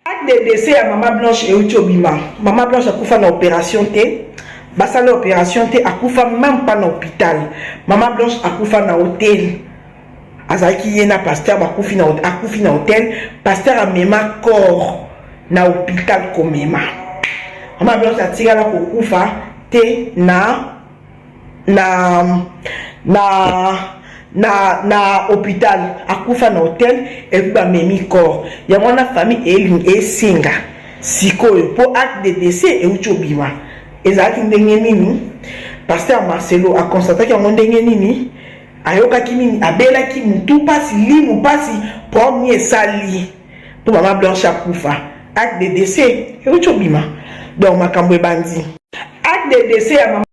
Acte de décès ya mama Blanche euti obima. Mama Blanche akufa na operation te. Basala operation te, akufa même pas na hôpital. Mama Blanche akufa na hôtel. Azalaki ye na pasteur bakufi na akufi na hôtel, pasteur amema corps na hôpital komema. Mama Blanche atikala kokufa te na na na na na hôpital akufa na hotel epuis bamemi corps yango wana famille eling esenga sikoyo mpo acte de décès euti obima ezalaki ndenge nini paster marcelo aconstataki yango ndenge nini ayokaki nini abelaki mutu mpasi limu mpasi problème esali po mama blanche akufa acte de décès euti obima donc makambo ebandi acte de décès ya mama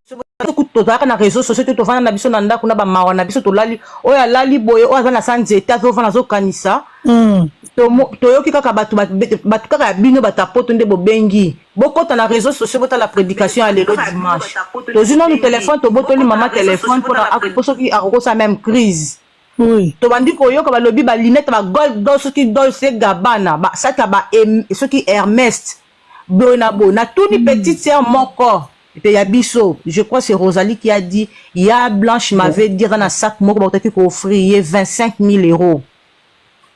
tozalaka na réseau sociaux te tovanda na biso na ndako na bamawa na biso tolali oyo alali boye oyo aza na sa nzete azovanda azokanisa hmm. toyoki kaka bato bato kaka ya bino bato ya poto nde bobengi bokota na réseau sociaux botala prédication ya lelo dimanche tozwi nanu telefone tobotoli mama telefone mpo soki akokosa meme crise Oui. tobandi koyoka balobi ba lunette ba gold do soki dolce gabana ba sata ba em, soki hermest boye na boye natuni mm. petite sœur moko mpe ya biso je crois c'est rosalie qui a dit ya blanche m'avait dit aza na sac moko bakotaki kooffrir ye 25 000 euros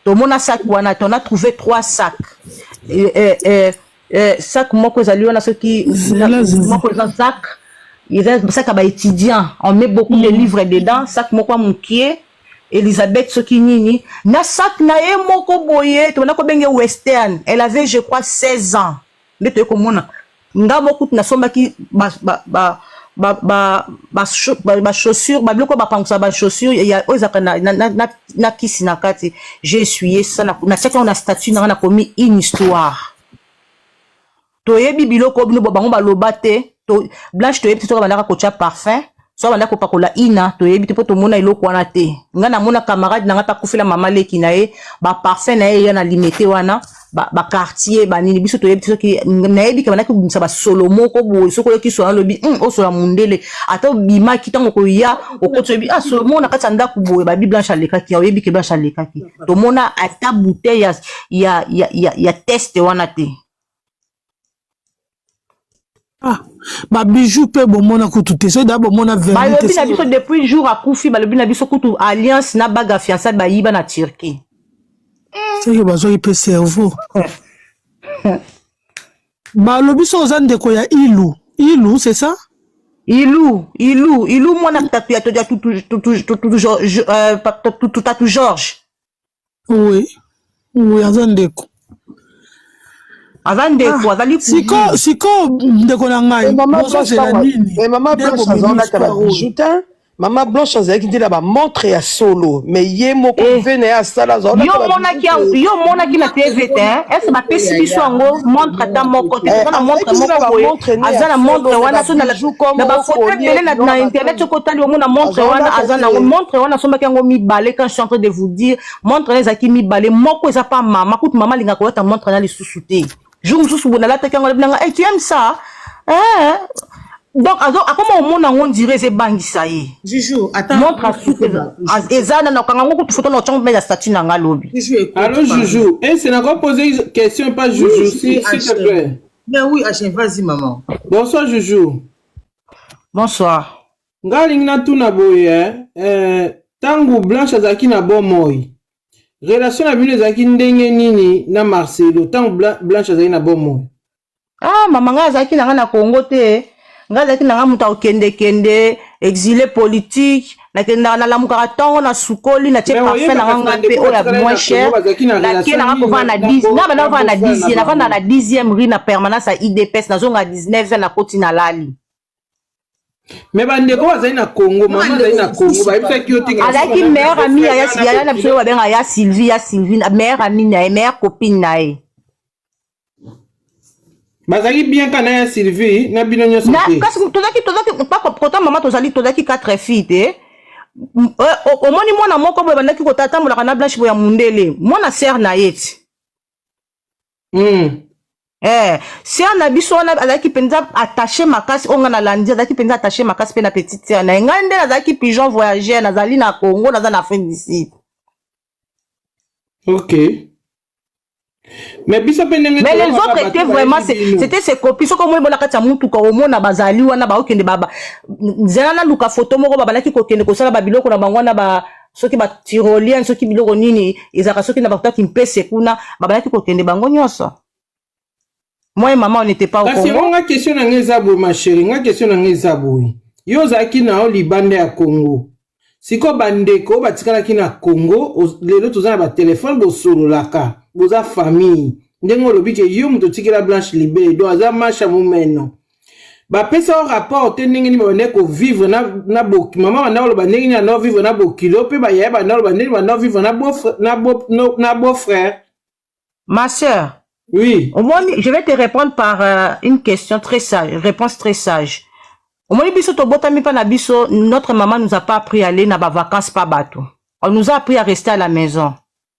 tomona sac wana ton a trouvé trois sacs euh, euh, euh, eh, sac moko ezali wana soki moko eza sac eza sac ya baétudiant on met beaucoup mm. de livres dedans sac moko ya mokie Elisabeth soki nini na sac na ye moko boye tobanda kobenge western elle avait je crois 16 ans nde toye komona nga moko kutu nasombaki ba, ba, ba, ba ba ba, ba, ba chaussures ba biloko bapangusa ba chaussures ya oyo ezalaka na, na, na, na kisi na kati j'ai essuyé ça na, na tiaki yango na statut na nga nakomi une histoire toyebi biloko bino bango baloba te to, blanche toyebi te soki abandaka kotya parfum soki abandaka kopakola ina toyebi te mpo tomona eloko wana te ngai namona camarade na ngai mpe akufela mama leki na ye baparfum na ye eya na limete wana ba, ba quartier ba nini biso toyebi soki nayebi ke banaki kobimisa basolo moko boye soki oyoki solo alobi mm, osola mundele ata obimaki ntango koya okoti oyebi ah, solo moko na kati ya ndako boye babi blanche alekaki oyebi ke blanche alekaki tomona ata bouteille ya, ya, ya, ya, ya teste wana te Ah, ba bijoux pe bomona kutu te soki daa bomona balobi na biso depuis jour akufi balobi na biso kutu alliance na baga fiançaille bayiba na turquie soki bazwaki mpe cerveau balobi so oza ndeko ya ilu ilu c'est ça ilu ilu ilu mwana tatu ya tutatu george Oui. Oui, aza ndeko. Aza ndeko, ah, azali siko siko ndeko na ngai. Maman Blanche na nini? Mais maman Blanche aza na tala bijoutin. Maman Blanche azalaki nde na ba montre ya solo, mais ye moko eh. ve na ya sala aza na Yo monaki yo monaki na TV te, hein? est-ce ba pesi biso yango montre ata moko te, eh, na montre moko boye. Aza na montre wana so na la na ba photo tele na internet soko tali omona montre wana aza na montre wana sombaki yango mibale quand en train de vous dire montre na ezalaki mibale moko eza pa mama kutu mama alingaka kolata montre na lisusu te jour mosusu boye nalataki yango nabinanga hey, tu aime ça eh? donc akoma omona yango ondire eza ebangisa ye montre asuki eza na nakanga yango kutu foto na otyango mpe ya statut na ngai lobi allo juju ese nako pose question pa juju s'il te plaît mais oui achen vas-y maman bonsoir juju bonsoir Nga lingi na tuna boye eh, eh, tangu Blanche azalaki na bomoi relation na bino ezalaki ndenge nini na Marcelo tangu Blanche azalaki na bomoi? Ah mama nga azalaki na nga na Congo te nga azalaki na nga moto akokendekende exile politique nakendaka nalamukaka ntongo na sukoli natie parfum na nganga mpe oyo ya moins cher nake nanga kovanda na 10 nga banda kovanda na 10 navanda na 10e rue na permanence ya idps nazonga 19 nakoti nalali me bandeko bazali na congo mama azali na congo bayebisaki yo te azalaki meilleur ami ya yaya na biso babenga ya sylvie ya sylvie meilleur ami na ye meilleur copine na ye bazalaki bien kana ya sylvie na bino nyonso te kasi tozalaki tozalaki kota mama tozali tozalaki quatre fille te eh, omoni mwana moko boye bandaki kotambolaka na blanche boya mundele mwana sere na ye ti mm. Eh, sœur na biso wana azalaki mpenza attaché makasi oyo ngai nalandi azalaki mpenza attaché makasi mpe na petite sœur na ye ngai nde nazalaki pigeon voyageur nazali na congo naza na afrique du sud ok mais biso mpe ndenge mais les autres étaient vraiment c'était se copie soki omoni bona kati ya motuka omona bazali wana baokende nzela naluka foto moko babalaki kokende kosala babiloko na bango wana ba soki ba tyrolien soki biloko nini ezalaka soki na bakutaki mpese kuna babalaki kokende bango nyonso moi mama on était pas au kasi yango Congo nga question na nga eza boye ma chérie nga question na nga eza boye yo ozalaki na yo libanda ya congo sikoyo bandeko oyo batikalaki na congo oz- lelo toza na batelefone bosololaka boza famille ndenge olobi ke yo moto otikela blanche libele donc aza masha momeno bapesa yo rapport te ndenge nini babandaki kovivre na, na bo, mama banda koloba ndenge nini banda vivre na bokilo mpe bayaya banda koloba ndenge banda vivre na beau-frère na beau, no, na beau frère ma sœur oui omoni je vais te répondre par euh, une question très sage réponse très sage omoni biso tobotami mpa na biso notre maman nous a pas appris aller na bavacances pa bato on nous a appris à rester à la maison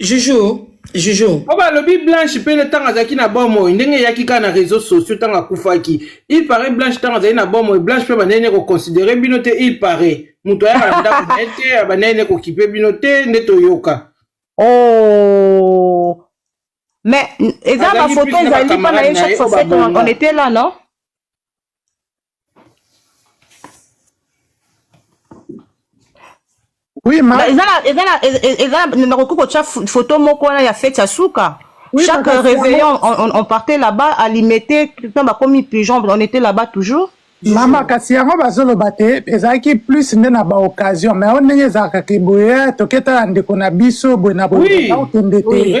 Joujou, Joujou. Oba bah, lobi Blanche pele tanga zaki na bomo ndenge yaki ka na réseaux sociaux tanga kufaki. Il paraît Blanche tanga zaki na bomo Blanche pe banene ko considérer bino te il paraît. Muto ya na ndako na ete banene ko kipe bino te nde toyoka. Oh. Mais eza ba photo ezali pa na ye chaque fois on était là non? Oui, ma... Bah, eza na eza na eza na nakoki kotya foto moko wana ya fete ya suka oui, chaque réveillon on, on, on partait là-bas alimete ntan bakomi pigeon on était là-bas toujours mama kasi yango bazoloba te ezalaki plus nde na baoccasion mais yango ndenge ezalaka te boye toke tala ndeko na biso boye na boye okende te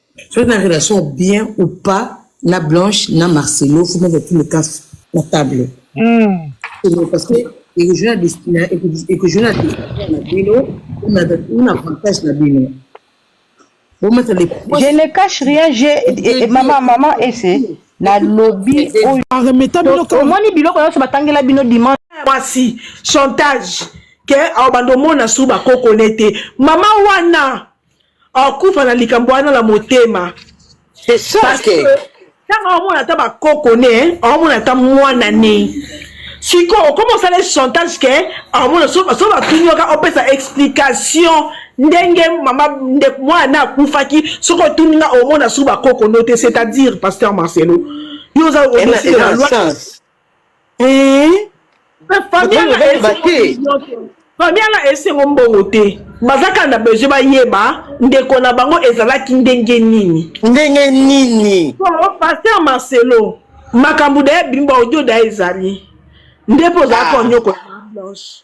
Soki na relation ya bien ou pas na Blanche na Marcelo faut mettre tous les cas na table. Mm. Parce que ekojuna destina ekojuna destina na bino una una avantage na bino. Vous mettez les points. Je ne cache rien, j'ai maman maman et c'est na lobi oyo. Arremeta bino comme. Omoni biloko yoso batangela bino dimanche. Mwasi chantage ke aobanda omona su bakokone te mama wana akufa na likambo wana na motema c'est ça parce que ntango aomona ata bakoko ne aomona ata mwana ne sikoyo okoma osala ye chantage ke aomona so batuni yoka opesa explication ndenge mama ndeko mwana akufaki soki otuni nga omona su bakoko no te c'est-à-dire pasteur marcelo yo oza obesile na loi famille wana esengo mbongo te baza kaka na besoin bayeba ndeko na bango ezalaki ndenge nini ndenge nini paster marcelo makambo daye bimba odio daye ezali nde mpo ozalaki ah. onyokola blanche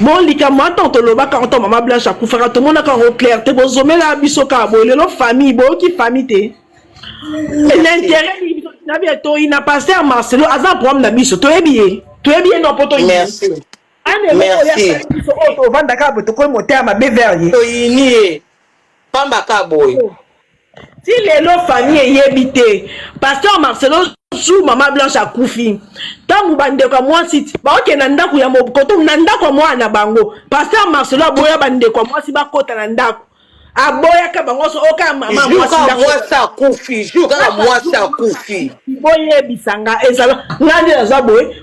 bon likambo wana ntango tolobaka ntango mama blanche akufaka tomonaka yango claire te bozomela biso kaka boye lelo famille boyoki famille te l'intérêt na biso toyi na paster marcelo aza na problème na biso toyebi ye toyebi ye no mpo toyi tovandaka boye tokomi motema mabe vers ye toyini ye pamba ka boye oh. ti lelo famille eyebi te pasteur marcelo jour mama blanche akufi ntango bandeko ya mwasi baokende na ndako ya mokoto na ndako ya mwana na bango paster marcelo aboya bandeko ya mwasi bakota na ndako aboyaka bango nyonso oka oh, mama mwasi akufi jour kaka mwasi akufi boyebisanga ezala ngai nde naza boye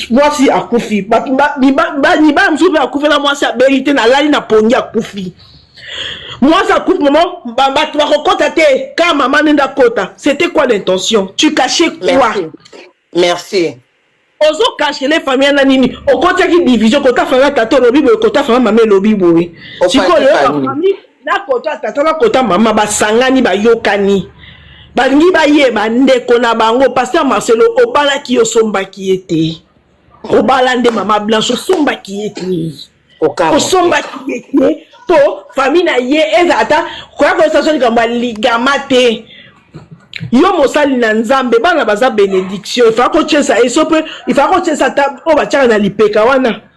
mwasi akufi bato mibala mosusu mpe akufela mwasi abeli te nalali na pongi akufi mwasi akufi mama bato bakokota te ka mama nde ndakota c'était quoi l'intention tu cache quoi merci ozokashele famille na nini okotaki division kota fanga tata olobi boye kota fanga mama elobi boye sikoyo nakota tata nakota mama basangani bayokani balingi bayeba ndeko na bango paster marcelo obalaki yo osombaki ye te obala nde mama blanche osombaki ye te osombaki ye te mpo fami na ye eza ata koya koyesa so likambo ya ligama te yo mosali na nzambe bana baza benediction ifaa kotyesa ye so mpe ifaa kotyesa ata oyo batyaka na lipeka wana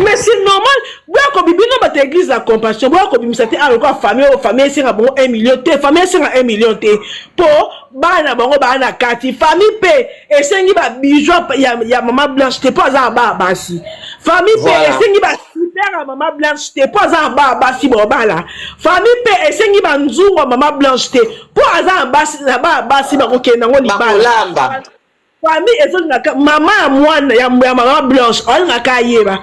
mais c'est normal boya kobi bino bato ya église la compassion boya kobimisa te alokola ah, famille oyo famille esenga bango 1 million te famille esenga 1 million te mpo bana na bango baa na kati famille mpe esengi babijou ya, ya mama blanche te mpo aza na baa basi famille mpe voilà. esengi ba super ya mama blanche te mpo aza na baa basi bobala famille mpe esengi banzungu ya mama blanche te mpo aza na baa basi bakokende yango libala famille ezolingaka mama ya mwana ya mama blanche alingaka ayeba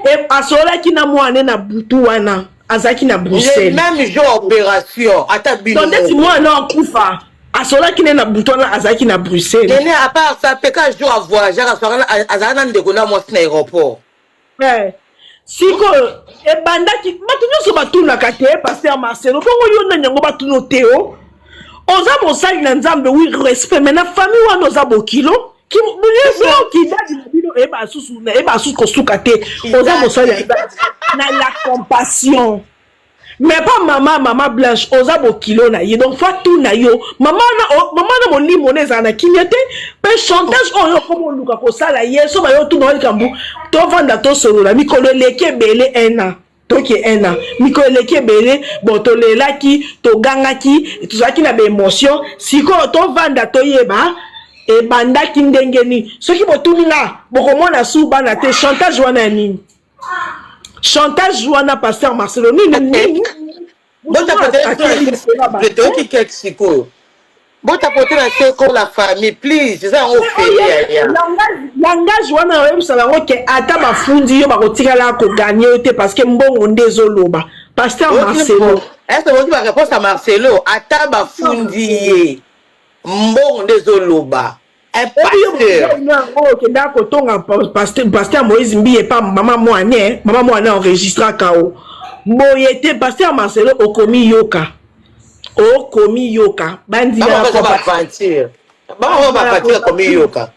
e, asololaki na mwana na butu wana azalaki na bruxelles même jour opération ata bino ndeti mwana akufa asolaki ne na butu wana azalaki na bruxelles nene apart ça peka jour avoyageaka azalaka na ndeko na mwasi na aéroport Eh, sikoyo ebandaki bato nyonso batunaka te paster marcelo bongo yo nani yango batuno teo oza mosali na nzambe wi respect mai na famille wana oza bokilo kidadi na bino eyeba asusu kosuka te oza mosali na la compassion mais pas mama mama blanche oza bokilo na ye donc fa tuna yo mama na molimo na ezala na kimia te mpe chantage oyo okoma oluka kosala ye so bayo tuna yo likambo tovanda tosolola mikolo eleki ebele un an toki un an mikolo eleki ebele bon tolelaki togangaki tozalaki na baemotion sikoyo tovanda toyeba ebandaki ndenge nini soki botuni nga bokomona su bana te chantage wana ya nini chantage wana pasteur marcelo nini nini botapoteletoyoki keke sikoyo botapotela se ko la famille please eza yango ofelialangage wana oyebisa bango ke ata bafundi yo bakotikala koganye yo te parce que mbongo nde ezoloba pasteur marcelo ese boki bareponse ya marcelo ata bafundi ye mbongo nde ezoloba okendaka kotonga paster moïse mbiye pa mama mwane mama mwane enregistraka o boye te paster marcelo okomiyoka okomiyoka bandimaaventure bango bapatir komiyoka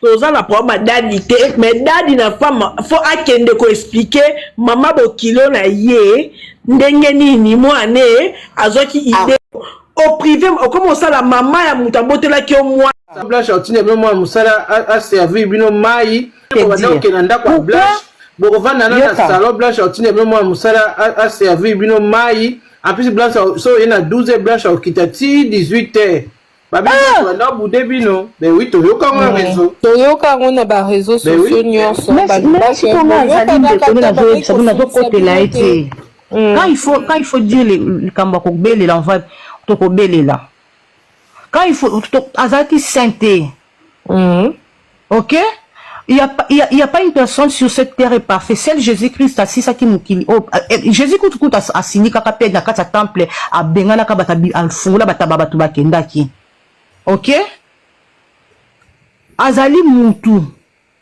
toza na problème ya dadi te mais dadi na femme fo akende koexplike mama bokilo na ye ndenge nini mwane azwaki ide ah. au privé okomi osala mama ya moto abotelaki yo mwana blanche atinda bino mwana mosala aservir bino mai obanda kokenda ndako ya blanche bokovanda na na salon blanche atinda bino mwana mosala aservir bino mai en plus blanche so oye na 12 heures blanche akokita ti 18 heures babibanda ah! bude bino ben oui toyoka yango na réseau toyoka yango na baréseau sociaux nyonso nazokotela ye te Mm. Quand il faut quand il faut dire les likambo kobelela on va tokobelela. Quand il faut azalaki sainté. Mm. OK? Il n'y a, pas, il y a, il y a pas une personne sur cette terre est parfaite. Seul Jésus-Christ asisaki mokili oyo Jésus-Christ kutu asilikaka mpe na kati ya temple abenganaka bato afungola bato ba bato bakendaki. OK? Azali mutu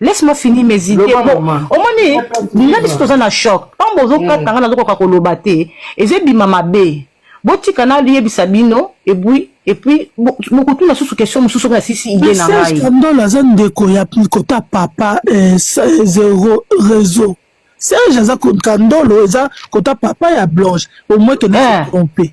laisse moi finir mes idées omoni nga biso toza na choc ntango bozokata nga nazokoka koloba te eza ebima mabe botika nayebisa bino epuis epuis bokotuna susu question mosusu soki nasisi ide na ngaikandolo aza ndeko ya kota papa eh, zero réseau serge aza kandolo eza kota papa ya blanche omoi tona se eh. trompe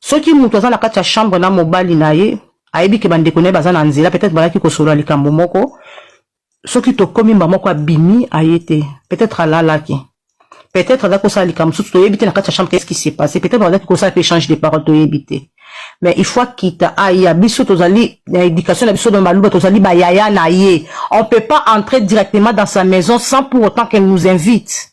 Soki mutu aza na kati ya chambre na mobali na ye, ayebi ke bandeko na ye baza na nzela, peut-etre bayaki kosolola likambo moko, soki tokomi mbala moko abimi aye te, peut-etre alalaki, peut-etre azalaki kosala likambo mosusu toyebi te na kati ya chambre, qu'est-ce qui s'est passé, peut-être bazalaki kosala mpe échange de parole toyebi te, mais il faut akita aya, biso tozali na éducation na biso na baluba, tozali ba yaya na ye, on peut pas entrer directement dans sa maison sans pour autant qu'elle nous invite.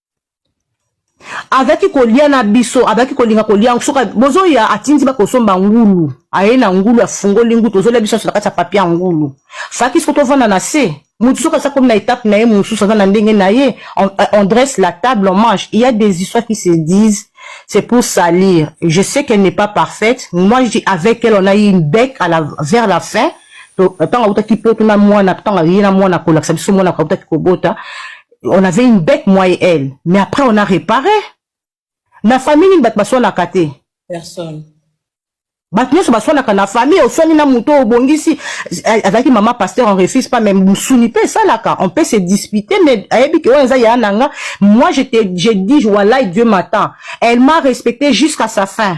azalaki kolia na biso azalaki kolinga kolia soka bozoya atindi bakosomba ngulu aye na ngulu afungoli ngulu tozolia biso na kati ya papia ngulu faki soko tovanda na se motu soki asakomi na etape na ye mosusu aza na ndenge na ye on, euh, on dresse la table on mange il y a des histoires qui se disent c'est pour salir je sais qu'elle n'est pas parfaite moi je dis avec elle on a eu une bec à la, vers la fin ntango autaki poto na mwana ntango aye na mwana kolakisa biso mwana autaki kobota on avait une bête moi et elle mais après on a réparé na famille nini bato baswanaka te personne bato nyonso baswanaka na famille oswani na moto obongisi azalaki mama pasteur on refuse pas mais mosuni mpe esalaka on peut se dispute mais ayebi ke oyo eza yaya na nga moi je te je dis walai dieu m'attend elle m'a respecté jusqu'à sa fin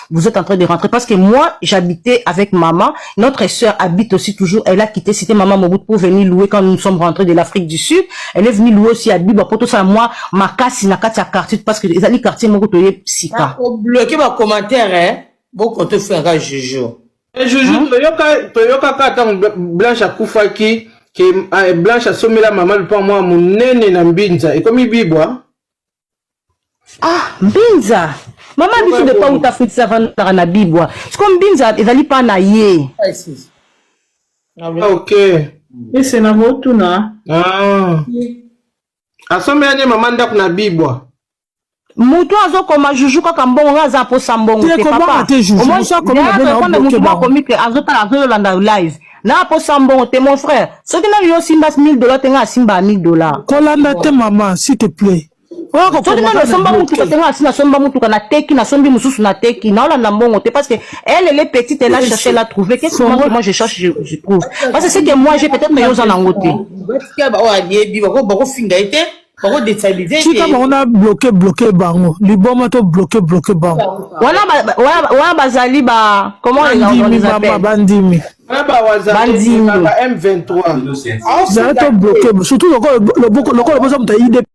vous êtes en train de rentrer parce que moi j'habitais avec maman notre sœur habite aussi toujours elle a quitté c'était maman Mobutu pour venir louer quand nous sommes rentrés de l'Afrique du Sud elle est venue louer aussi à Biba pour tout ça moi ma casse na kati ya quartier parce que ezali quartier moko toye sika au bloquer ba commentaire hein boko to faire juju eh, juju hein? toyoka toyoka ka tant blanche akufaki ke eh, blanche asomela maman lupa mwa monene na mbinza ekomi bibwa ah mbinza mama biso de pauta afutisa vandaka na bibwa siko mbinza ezali mpa na ye ah, ok ese na botuna ah. asombela nde mama ndako na bibwa moto azokoma juju kaka mbongo nga aza aposa mbongo te papa omoni moto akomi te azotala azolanda live na posa mbongo te mon frère soki nani yo osimba 1000 dollars te nga asimba 1000 dollars kolanda te maman s'il te plaît soki nani osomba motuka te nga asi nasomba motuka nateki nasombi mosusu nateki naolanda mbongo te parce que elle elle est petite elle a cherché elle a trouvé qu'est-ce que moi, moi je cherche je, je trouve parce que c'est que moi j'ai peut-être mais yo oza nango te batika baoyo ayebi bakofinga ye te tika bango na bloke bloke bango liboma to bloke bloke bango wana bazali ba bandimi mama bandimi zala to bloke surtout lokola boza moto ya idp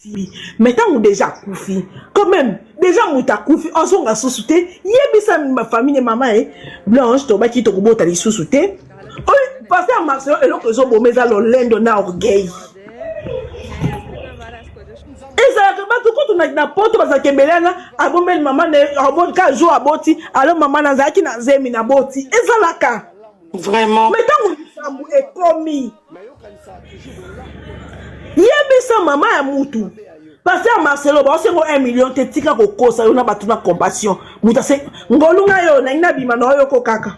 asili me ntango deja akufi quand même deja moto akufi azonga susu te yebisa famille mama ye blanche tobaki tokobota lisusu te Pasteur Marcelo eloko ezoboma eza lolendo na orgueil ezalaka bato kutu na poto bazalaka ebele wana abombeli mama ka jour aboti alo mama nazalaki na zemi na boti ezalaka vraiment me ntango likambo ekomi yebisa mama ya mutu paster marcelo baosengo 1 million te tika kokosa yo na bato na compassion moto ase ngolunga yo nangi nabima na oyo ko kaka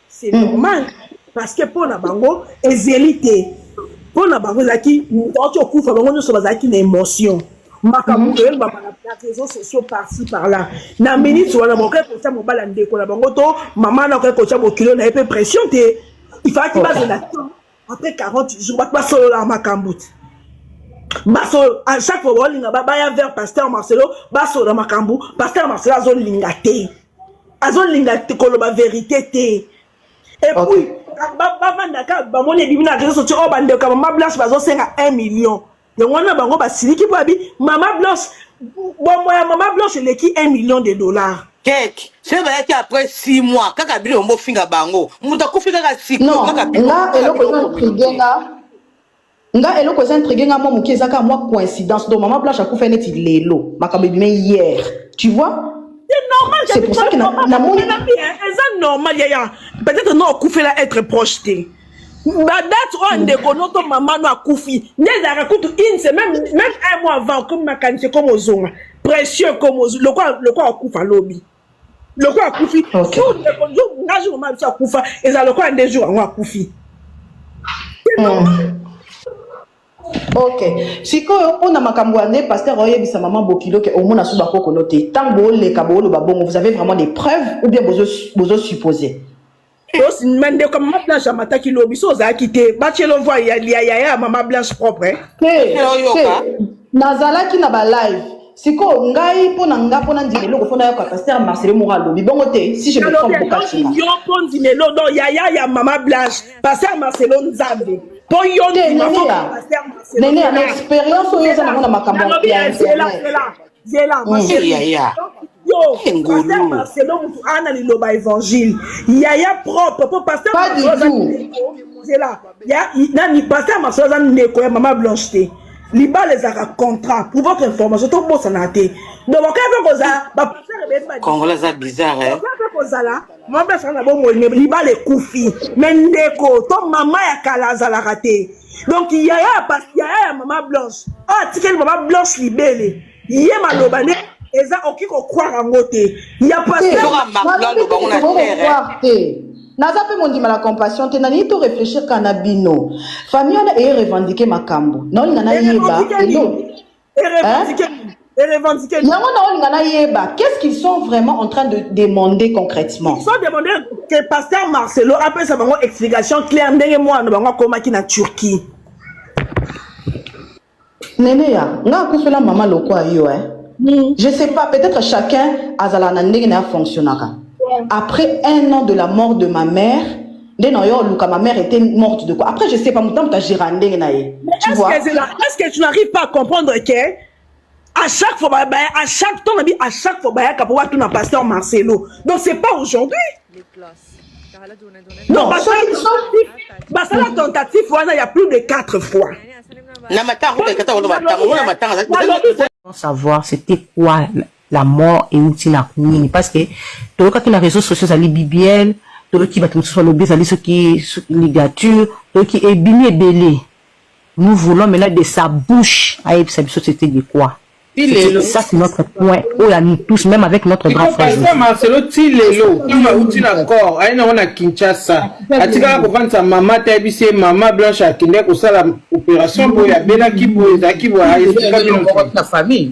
c'est normal parce que mpo na bango ezeli te mpo na bango ezalaki moto auti okufa bango nyonso bazalaki na émotion makambo mhm. oyebaka na réseau sociaux parci par là na minute wana bakoki kotya mobali ya ndeko na bango to mama na akoki kotya bokilo na ye mpe pression te ifalaki bazela temps après 40 jours bato basololaka makambo te basolo à chaque fois baolinga baya vers pasteur marcelo basolola makambo pasteur marcelo azolinga te azolinga koloba verité te epuis bavandaka bamoni ebimi na réseau socio oyo oh, bandeko ya mama blanche bazosenga 1 million yango wana bango basiliki mpo abi mama blanche bombo ya mama blanche eleki 1 million de dollars keke soki bayaki après 6 mois kaka bino bango bofinga bango moto akufi kaka sikoyo kaka nga eloko eza intrigue nga nga eloko eza intrigue nga mwa moke eza kaka mwa coïncidence donc mama blanche akufa neti lelo makambo ebima hier tu vois c'est pour ça que namoni eza normal yaya peut-être na okufela être proche te badate oyo ndeko no to mama no akufi nde ezalaka kutu une semaine même un mois avant okomi makanisi ekomi ozonga pression ekomi lokola akufa lobi lokola akufi jour ndeko jour nga jour mama biso akufa ezala lokola nde jour yango akufi ok sikoyo mpo na makambo ya nde paster oyebisa mama bokilo ke omona so bakokolo te ntango booleka booloba bongo vous avez vraiment des preuves ou bien bozosuppose bozo Os ma ndeko ya mama blanche amataki lobi so ozalaki te bacelo voi ya ya ya ya mama blanche propre hein? te te Nayoka. nazalaki na balive sikoyo ngai mpo na nga mpo na ndima eloko mpo nayoka paster marcelo moko alobi bongo te si je me alobi trompe bokati elongi nga yo mpo ndimelo do ya ya ya mama blanche paster marcelo nzambe mpo yo te ndima fo neneya paster marcelo neneya na experience oyo eza nango na makambo ya- Nalobi ya ya- zela, internet zela. zela ma Mm, chérie yaya yo Eh, ngulu. pasteur marcelo mutu ana liloba évangile yaya propre po pasteur Pas du Marcelo aza tout. ndeko. zela ya i- nani pasteur marcelo aza ndeko ya mama blanche te libala ezalaka contrat pour votre information tobosanaka te donc bakaya mpe kozala bapasteur ebele ba- kongola aza bizarre eh? bakaya mpe kozala mama blanche aza na bomoi me libala ekufi me ndeko to mama ya kala azalaka te donc yaya ya pasi yaya ya mama blanche oyo atikeli mama blanche libele ye maloba nde eza oki kokwara yango te ya pasi naza mpe mondima na compassion te nalingi to réfléchir kaka na bino famille wana eye revendiquer makambo naolinga nayeba yango naolinga nayeba qu'est-ce qu'ils sont vraiment en train de demander concrètement so demande que pasteur marcelo apesa bango explication claire ndenge mwana na bango akomaki na turquie neneya nga akufela mama lokwa yo eh? mm. je sais pas peut-être chacun azalaka na ndenge na ya fonctionnaka après un an de la mort de ma mère nde na yo luka ma mère était morte de quoi après je sais pas moto moto agera ndenge na ye tu vois est-ce que, est-ce que tu n'arrives pas à comprendre que à chaque fois bah, bah, à chaque temps nabi à chaque fois bayaka po batuna pasteur Marcelo donc c'est pas aujourd'hui non basala tentative wana ya plus de 4 fois na matanga savoir c'était quoi la mort euti na nini parce que toyokaki na réseaux sociaux ezali bibiel toyoki bato mosusu balobi ezali soki ligature toyoki ebimi ebele nous voulons maintenant de sa bouche ayebisa biso c'était de quoi ça c'est notre point oyo à nous tous même avec notre grand frère marcelo ti lelo oyo auti na corps aye nango na kinshasa atikala kovandisa mama te ayebisi ye mama blanche akendeki kosala opération boye abelaki boye ezalaki boye na famille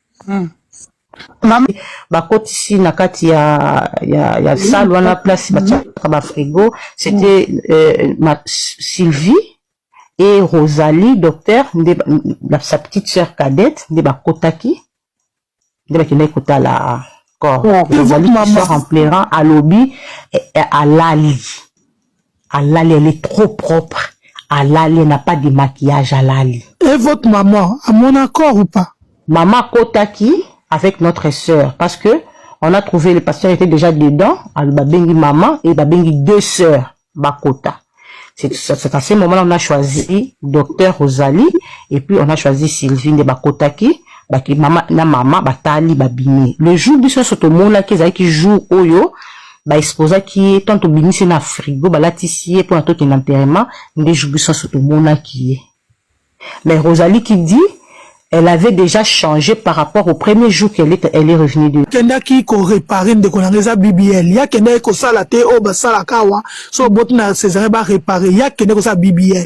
Hmm. Mama bakotisi na kati ya ya ya salle wana place batiaka ba frigo c'était euh, ma Sylvie et Rosalie docteur nde sa petite sœur cadette nde bakotaki nde bakendaki kotala corps Rosalie qui sort en pleurant alobi alali Alali elle est trop propre alali n'a pas de maquillage alali. Et votre maman à mon accord ou pas? Maman akotaki avec notre sœur parce que on a trouvé le pasteur était déjà dedans alors babengi maman et babengi deux sœurs bakota. C'est à ce moment-là on a choisi docteur Rosalie et puis on a choisi Sylvie de bakotaki baki mama na mama batali babimi. Le jour biso soto mona ki jour oyo ba exposaki ye tant tobimisi ye na frigo balatisi ye mpona tokende enterrement nde jour biso nyonso tomonaki ye mais rosalie qui dit elle avait déjà changé par rapport au premier jour qu'elle est, elle est revenue de kendaki ko réparer ndeko nanga eza BBL ya kendaki kosala te oyo basalaka awa so oboti na Césarien ba réparer ya kende kosala BBL